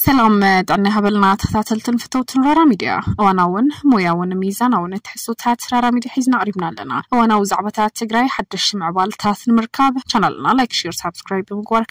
ሰላም ጥዕና ሃበልና ተኸታተልትን ፍተውትን ራራ ሚድያ እዋናውን ሞያውን ሚዛናውን ትሕዝቶታት ራራ ሚድያ ሒዝና ኣቕሪብና ኣለና እዋናዊ ዛዕባታት ትግራይ ሓደሽቲ ምዕባልታት ንምርካብ ቻናልና ላይክ ሼር ሳብስክራይብ ብምግባር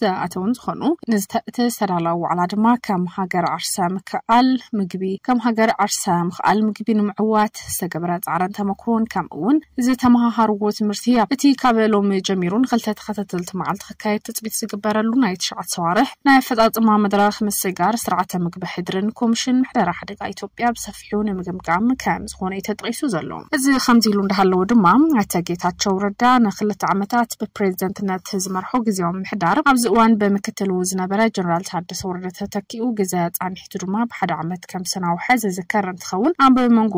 ዝኣተዉን ዝኾኑ ንዝተእቲ ዝተዳለወ ዋዕላ ድማ ከም ሃገር ዓርሰ ምክእኣል ምግቢ ከም ሃገር ዓርሰ ምክእኣል ምግቢ ንምዕዋት ዝተገበረ ፃዕርን ተመኩሮን ከምኡ እውን ዝተመሃሃርዎ ትምህርቲ ኣብ እቲ ካብ ሎሚ ጀሚሩ ንክልተ ተኸተተልቲ መዓልቲ ክካየድ ትፅቢት ዝግበረሉ ናይ ትሽዓት ሰዋርሕ ናይ ኣፈፃፅማ መድረኽ ምስጋር ስርዓተ ምግቢ ሕድርን ኮሚሽን ምሕደራ ሓደጋ ኢትዮጵያ ብሰፊ ኣስፊሑ ንምግምጋም ከም ዝኾነ'ዩ ተጠቒሱ ዘሎ። እዚ ከምዚ ኢሉ እንዳሃለወ ድማ ኣይተ ጌታቸው ረዳ ንክልተ ዓመታት ብፕሬዝደንትነት ዝመርሖ ግዝያዊ ምምሕዳር ኣብዚ እዋን ብምክትሉ ዝነበረ ጀነራል ታደሰ ወረደ ተተኪኡ ግዘ ፃኒሒቱ ድማ ብሓደ ዓመት ከም ዝሰናወሐ ዝዝከር እንትኸውን ኣብ መንጎ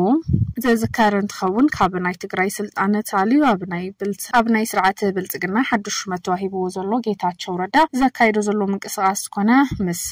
ዝዝከር እንትኸውን ካብ ናይ ትግራይ ስልጣን ተኣልዩ ኣብ ናይ ብልፅ ኣብ ናይ ስርዓት ብልፅግና ሓዱሽ ሹመት ተዋሂብዎ ዘሎ ጌታቸው ረዳ ዘካይዶ ዘሎ ምንቅስቓስ ዝኾነ ምስ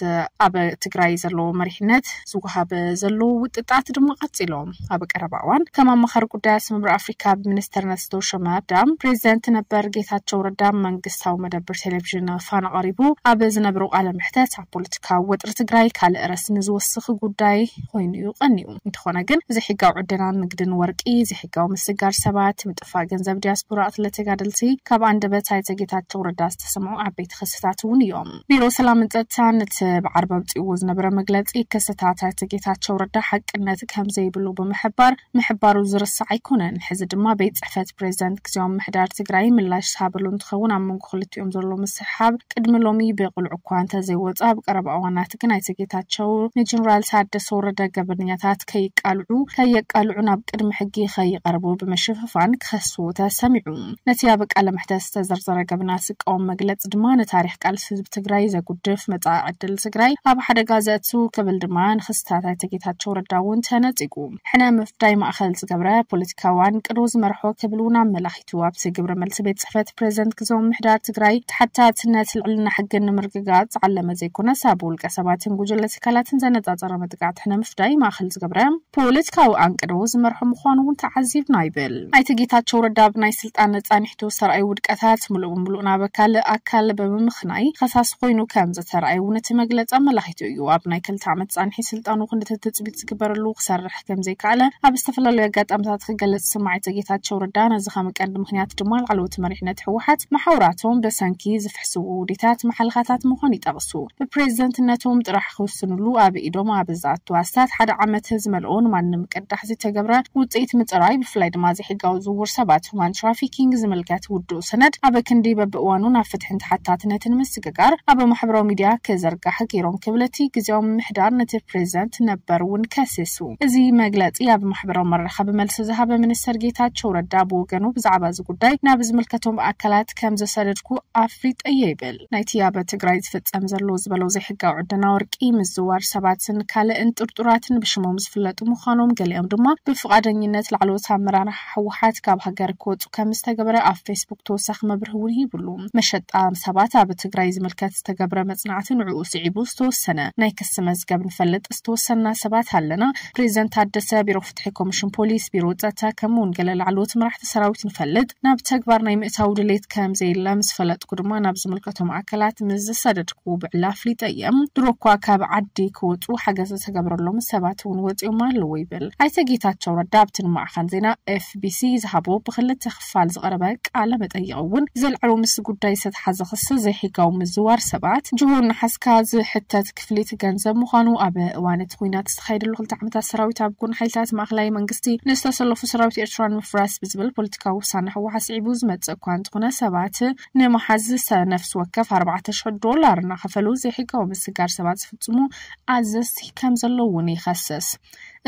ኣብ ትግራይ ዘለዎ መሪሕነት ዝወሃብ ዘሎ ውጥጣት ድማ ቀፂሎም ኣብ ቀረባ እዋን ከም ኣማኻሪ ጉዳያት ስምምር ኣፍሪካ ብሚኒስተርነት ዝተውሸመ ኣዳም ፕሬዚደንት ነበር ጌታቸው ረዳ መንግስታዊ መደብር ቴሌቪዥን ፋና ቀሪቡ ኣብ ዝነብሮ ቃለ ምሕተት ኣብ ፖለቲካዊ ወጥሪ ትግራይ ካልእ ረስ ንዝወስኽ ጉዳይ ኮይኑ እዩ ቀኒኡ እንተኾነ ግን ዘይሕጋዊ ዕደናን ንግድን ወርቂ ዘይሕጋዊ ምስጋር ሰባት ምጥፋእ ገንዘብ ዲያስፖራ ቅትለ ተጋደልቲ ካብ ኣንደበት ኣይተ ጌታቸው ረዳ ዝተሰምዑ ዓበይቲ ክስታት እውን እዮም ቢሮ ሰላምን ጸጥታን እቲ ብዓርቢ ኣውጺእዎ ዝነበረ መግለጺ ክስታት ኣይተ ጌታቸው ረዳ ሓቅነት ከምዘይብሉ ብምሕባር ምሕባሩ ዝርሳዕ ኣይኮነን። ሕዚ ድማ ቤት ጽሕፈት ፕሬዚደንት ግዜያዊ ምምሕዳር ትግራይ ምላሽ ዝሃበሉ እንትኸውን ኣብ መንጎ ክልቲኦም ዘሎ ምስሕሓብ ቅድሚ ሎሚ ብቕሉዕ እኳ እንተዘይወጸ ኣብ ቀረባ እዋናት ግን ኣይተ ጌታቸው ንጀነራል ታደሰ ወረደ ገበነኛታት ሰባት ከይቃልዑ ከየቃልዑን ኣብ ቅድሚ ሕጊ ከይቐርቡ ብምሽፍፋን ክኸስዎ ተሰሚዑ። ነቲ ኣብ ቃለ መሕተት ዝተዘርዘረ ገበናት ዝቃወም መግለጺ ድማ ንታሪኽ ቃልሲ ህዝቢ ትግራይ ዘጉድፍ፣ መጻኢ ዕድል ትግራይ ኣብ ሓደጋ ዘእቱ ክብል ድማ ንክስታት ኣይተ ጌታቸው ረዳ እውን ተነጺጉ። ሕነ ምፍዳይ ማእኸል ዝገብረ ፖለቲካዊ ኣንቅዶ ዝመርሖ ክብል እውን ኣመላኺቱ። እቲ ዋብሲ ግብረ መልሲ ቤት ፅሕፈት ፕሬዚደንት ግዘ ምሕዳር ትግራይ ተሓታትነት ልዕልና ሕግን ንምርግጋፅ ዝዓለመ ዘይኮነስ ኣብ ውልቀ ሰባትን ጉጅለ ትካላትን ዘነፃፀረ መጥቃዕቲ ንምፍዳይ ማእኸል ዝገብረ ፖለቲካዊ ኣንቅዶ ዝመርሖ ምዃኑ እውን ተዓዚብና ይብል ኣይተ ጌታቸው ረዳ ብናይ ስልጣን ፃኒሕቱ ዝተርኣዩ ውድቀታት ሙሉእ ብሙሉእ ናብ ካልእ ኣካል ብምምኽናይ ኸሳሲ ኮይኑ ከምዝተርኣየ እውን እቲ መግለፂ ኣመላኺቱ እዩ ኣብ ናይ ክልተ ዓመት ፃንሒት ስልጣኑ ክንድቲ ትፅቢት ዝግበረሉ ክሰርሕ ክወድቕ ከምዘይከኣለ ኣብ ዝተፈላለዩ ኣጋጣምታት ክገልጽ ዝሰማዕ ኣይተ ጌታቸው ረዳ ነዚ ከም ቀንዲ ምኽንያት ድማ ላዕለዎት መሪሕነት ህወሓት መሓውራቶም በሰንኪ ዝፍሕስዎ ውዲታት መሓልኻታት ምዃኑ ይጠቕሱ። ብፕሬዝደንትነቶም ጥራሕ ክውስንሉ ኣብ ኢዶም ኣብ ዝኣቱ ኣስታት ሓደ ዓመት ዝመልኦ ንማንም ቅዳሕ ዘይተገብረ ውጽኢት ምጽራይ ብፍላይ ድማ ዘይሕጋዊ ዝውውር ሰባት፣ ሁማን ትራፊኪንግ፣ ዝምልከት ውዱእ ሰነድ ኣብ ክንዲ በብእዋኑ ናብ ፍትሕን ተሓታትነትን ምስ ምትግጋር ኣብ ማሕበራዊ ሚድያ ክዝርጋሕ ገይሮም ክብል እቲ ግዝያዊ ምምሕዳር ነቲ ፕሬዚደንት ነበር እውን ከሲሱ። እዚ መግለፂ ኣብ ማሕበራዊ መራኸቢ መልሲ ዝሃበ ሚኒስትር ጌታቸው ረዳ ብወገኑ ብዛዕባ እዚ ጉዳይ ናብ ዝምልከቶም ኣካላት ከምዘሰደድኩ ኣፍሊጠ እየ ይብል። ናይቲ ኣብ ትግራይ ዝፍፀም ዘሎ ዝበሎ ዘይሕጋዊ ዕደና ወርቂ፣ ምዝዋር ሰባትን ካልእን ጥርጡራትን ብሽሞም ዝፍለጡ ምዃኖም ገሊኦም ድማ ብፍቓደኝነት ላዕለዎት ኣመራርሓ ህወሓት ካብ ሃገር ክወፁ ከምዝተገበረ ኣብ ፌስቡክ ተወሳኺ መብርሂ እውን ሂቡሉ። መሸጣ ሰባት ኣብ ትግራይ ዝምልከት ዝተገብረ መፅናዕቲ ንዕኡ ስዒቡ ዝተወሰነ ናይ ክሲ መዝገብ ንፈልጥ ዝተወሰንና ሰባት ኣለና። ፕሬዚደንት ታደሰ፣ ቢሮ ፍትሒ፣ ኮሚሽን ፖሊስ፣ ቢሮ ፀጥታ ከምኡ እውን ገለ ላዕለዎት መራሕቲ ሰራዊት ንፈልጥ ናብ ተግባር ናይ ምእታው ድሌት ከምዘየለ ምስ ፈለጥኩ ድማ ናብ ዝምልከቶም ኣካላት ምስ ዝሰደድኩ ብዕሊ ኣፍሊጠ እየ። ድሮ እኳ ካብ ዓዲ ክወፁ ሓገዝ ዝተገበረሎም ሰባት እውን ወፂኦም ኣለዉ። ይብል ኣይተ ጌታቸው ረዳ ኣብቲ ንማዕኸን ዜና ኤፍቢሲ ዝሃቦ ብክልተ ክፋል ዝቐረበ ቃለ መጠይቕ እውን ዘልዐሎ ምስ ጉዳይ ዝተትሓዘ ክሲ ዘይሕጋዊ ምዝዋር ሰባት ጅሆ እናሓዝካ ዝሕተት ክፍሊት ገንዘብ ምዃኑ ኣብ እዋን እቲ ኹናት ዝተኻየደሉ ክልተ ዓመታት ሰራዊት ኣብ ጎን ሓይልታት ማእኸላይ መንግስቲ ንዝተሰለፉ ሰራዊት ኤርትራ ንምፍራስ ብዝብል ፖለቲካዊ ውሳነ ህወሓት ስዒቡ ዝመፅእ እኳ እንተኾነ ሰባት ንመሓዝ ነፍሲ ወከፍ ኣርባዕተ ሽሕ ዶላር እናኸፈሉ ዘይሕጋዊ ምስጋር ሰባት ዝፍፅሙ ኣዘዝቲ ከም ዘለዉ እውን ይኸሰስ።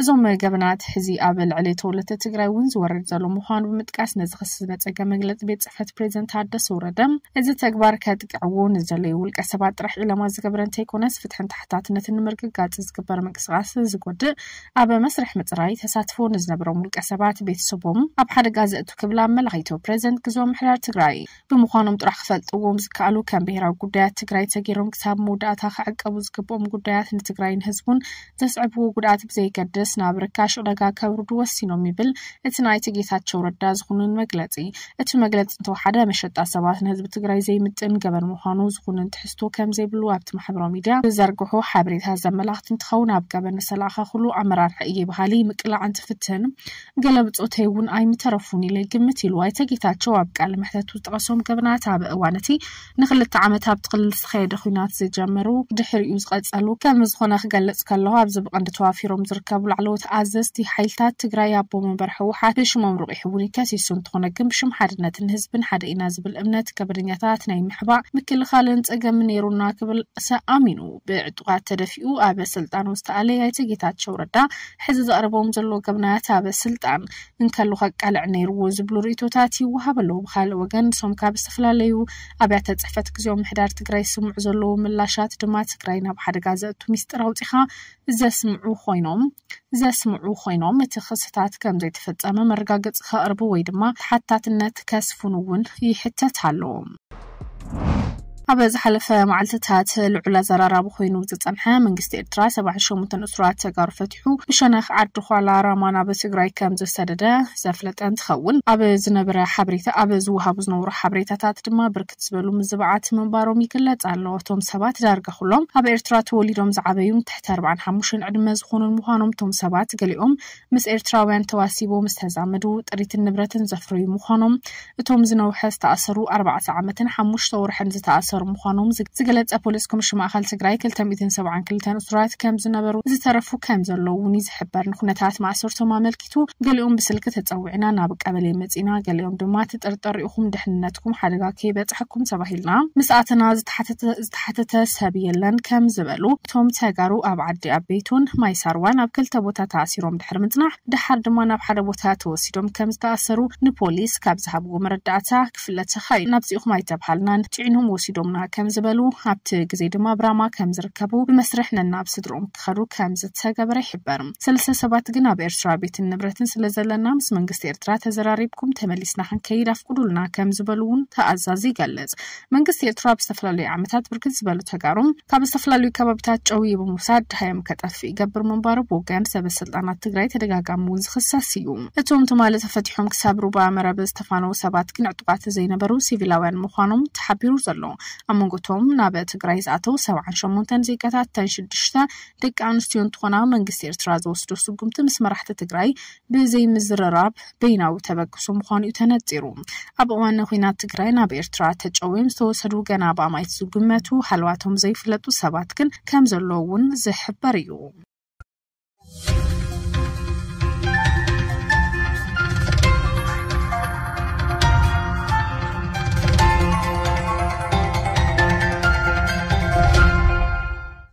እዞም ገበናት ሕዚ ኣብ ልዕሊ ተወለድቲ ትግራይ እውን ዝወርድ ዘሎ ምዃኑ ብምጥቃስ ነዚ ክሲ ዝነፀገ መግለፂ ቤት ፅሕፈት ፕሬዚደንት ታደሰ ወረደ እዚ ተግባር ከጥቅዕዎ ንዘለዩ ውልቀ ሰባት ጥራሕ ዒላማ ዝገበረ እንተይኮነስ ፍትሕን ተሓታትነትን ንምርግጋፅ ዝግበር ምንቅስቓስ ዝጎድእ ኣብ መስርሕ ምፅራይ ተሳትፎ ንዝነበሮም ውልቀሰባት ቤተሰቦም ኣብ ሓደጋ ዘእቱ ክብል ኣመላኺቱ ፕሬዚደንት ግዝያዊ ምምሕዳር ትግራይ። ብምዃኖም ጥራሕ ክፈልጥዎም ዝከኣሉ ከም ብሄራዊ ጉዳያት ትግራይ ተገይሮም ክሳብ መወዳእታ ክዕቀቡ ዝግብኦም ጉዳያት ንትግራይን ህዝቡን ዘስዕብዎ ጉድኣት ብዘየገድስ ናብ ርካሽ ዕዳጋ ከውርዱ ወሲኖም ይብል እቲ ናይ ኣይተ ጌታቸው ረዳ ዝኹንን መግለፂ። እቲ መግለፂ እንተወሓደ መሸጣ ሰባት ንህዝቢ ትግራይ ዘይምጥን ገበን ምዃኑ ዝኹንን ትሕዝቶ ከምዘይብሉ ኣብቲ ማሕበራዊ ሚድያ ዝዘርግሖ ሓበሬታ ዘመላኽት እንትኸውን ኣብ ገበን ንተለኣኸ ኩሉ ኣመራርሓ እየ በሃሊ ምቅላዕ እንትፍትን ገለ ብፆተይ እውን ኣይምተረፉን ኢለ ይግምት ኢሉ። ኣይተ ጌታቸው ኣብ ቃለ መሕተቱ ዝጠቐሶም ገበናት ኣብ እዋን እቲ ንክልተ ዓመት ኣብቲ ክልል ዝተኸየደ ኹናት ዝጀመሩ ድሕሪኡ ዝቐፀሉ ከምዝኾነ ክገልፅ ከለኹ ኣብዚ ብቐንዲ ተዋፊሮም ዝርከቡ ላዕለዎት ኣዘዝቲ ሓይልታት ትግራይ ኣቦ መንበር ህወሓት ብሽሞም ርቂሑ እውን ከሲሱ እንተኾነ ግን ብሽም ሓድነትን ህዝብን ሓደ ኢና ዝብል እምነት ገበነኛታት ናይ ምሕባእ ምክልኻልን ፀገምን ነይሩና ክብል ኣሚኑ ብዕጡቓት ተደፊኡ ኣብ ስልጣኑ ዝተኣለየ ኣይተ ጌታቸው ረዳ ሕዚ ዘቕርቦም ዘሎ ገበናት ኣብ ስልጣን እንከሉ ከቃልዕ ነይርዎ ዝብሉ ርእይቶታት ይወሃብ ኣሎ። ብኻልእ ወገን ንሶም ካብ ዝተፈላለዩ ኣብያተ ፅሕፈት ግዝያዊ ምሕዳር ትግራይ ዝስምዑ ዘለዉ ምላሻት ድማ ትግራይ ናብ ሓደጋ ዘእቱ ሚስጥር ኣውፂኻ ዘስምዑ ኾይኖም ዘስምዑ ኾይኖም እቲ ክስታት ከምዘይተፈፀመ መረጋገፂ ከቕርቡ ወይ ድማ ተሓታትነት ከስፍኑ እውን ይሕተት ኣሎ። ኣብ ዝሓለፈ መዓልትታት ልዑል ኣዘራራቢ ኮይኑ ዝጸንሐ መንግስቲ ኤርትራ ሰብዓን ሸሞንተን እሱራት ተጋሩ ፈቲሑ ብሸነኽ ዓዲ ዃላ ራማ ናብ ትግራይ ከም ዝሰደደ ዘፍለጠ እንትኸውን ኣብ ዝነበረ ሓበሬታ ኣብ ዝወሃቡ ዝነበሩ ሓበሬታታት ድማ ብርክት ዝበሉ ምዝባዓት ምንባሮም ይግለጽ ኣሎ። እቶም ሰባት ዳርጋ ኩሎም ኣብ ኤርትራ ተወሊዶም ዝዓበዩን ትሕቲ ኣርብዓን ሓሙሽተን ዕድመ ዝኾኑን ምዃኖም እቶም ሰባት ገሊኦም ምስ ኤርትራውያን ተዋሲቦም ዝተዛመዱ ጥሪትን ንብረትን ዘፍረዩ ምዃኖም እቶም ዝነውሐ ዝተኣሰሩ ኣርባዕተ ዓመትን ሓሙሽተ ወርሕን ዝተኣሰሩ ምዃኖም ዝገለጸ ፖሊስ ኮሚሽን ማእኸል ትግራይ ክልተ ሚእትን ሰብዓን ክልተን እሱራት ከምዝነበሩ ዝተረፉ ከምዘለዉ እውን እዩ ዝሕበር ንኩነታት ማእሰርቶም ኣመልኪቱ ገሊኦም ብስልኪ ተጸዊዕና ናብ ቀበሌ መጺና ገሊኦም ድማ ትጥርጠሩ ኢኹም ድሕንነትኩም ሓደጋ ከይበጽሐኩም ተባሂልና ምስ ኣተና ዝተሓተተ ዝተሓተተ ሰብ የለን ከም ዝበሉ እቶም ተጋሩ ኣብ ዓዲ ኣበይቶን ማይ ሳርዋን ኣብ ክልተ ቦታ ተኣሲሮም ድሕሪ ምፅናሕ ደሓር ድማ ናብ ሓደ ቦታ ተወሲዶም ከም ዝተኣሰሩ ንፖሊስ ካብ ዝሃብዎ መረዳእታ ክፍለ ተኻኢሉ ናብዚ ኢኹም ኣይተብሃልናን ፂዒኖም ወሲዶምና ከም ዝበሉ ኣብቲ ግዜ ድማ ብራማ ከም ዝርከቡ ብመስርሕ ነናብ ስድርኦም ክኸዱ ከም ዝተገበረ ይሕበር ሰለስተ ሰባት ግን ኣብ ኤርትራ ቤትን ንብረትን ስለ ዘለና ምስ መንግስቲ ኤርትራ ተዘራሪብኩም ተመሊስና ክንከይድ ኣፍቁዱልና ከም ዝበሉ እውን ተኣዛዚ ይገልፅ መንግስቲ ኤርትራ ኣብ ዝተፈላለዩ ዓመታት ብርክት ዝበሉ ተጋሩ ካብ ዝተፈላለዩ ከባቢታት ጨውዩ ብምውሳድ ድሃዮም ከጠፍእ ይገብር ምንባሩ ብወገን ሰበ ስልጣናት ትግራይ ተደጋጋሚ እውን ዝኽሰስ እዩ። እቶም ትማሊ ተፈቲሖም ክሳብ ሩባ መረብ ዝተፋነዉ ሰባት ግን ዕጡቓት ዘይነበሩ ሲቪላውያን ምዃኖም ተሓቢሩ ዘሎ። ኣብ መንጎ እቶም ናብ ትግራይ ዝኣተው ሰብዓን ሸሞንተን ዜጋታት እተን ሽዱሽተ ደቂ ኣንስትዮ እንትኾና መንግስቲ ኤርትራ ዝወስዶ ስጉምቲ ምስ መራሕቲ ትግራይ ብዘይምዝርራብ በይናዊ ተበግሶ ምዃኑ'ዩ ተነጺሩ። ኣብ እዋን ኹናት ትግራይ ናብ ኤርትራ ተጨውዮም ዝተወሰዱ ገና ብኣማኢት ዝግመቱ ሃለዋቶም ዘይፍለጡ ሰባት ግን ከምዘለዉ'ውን ዝሕበር እዩ።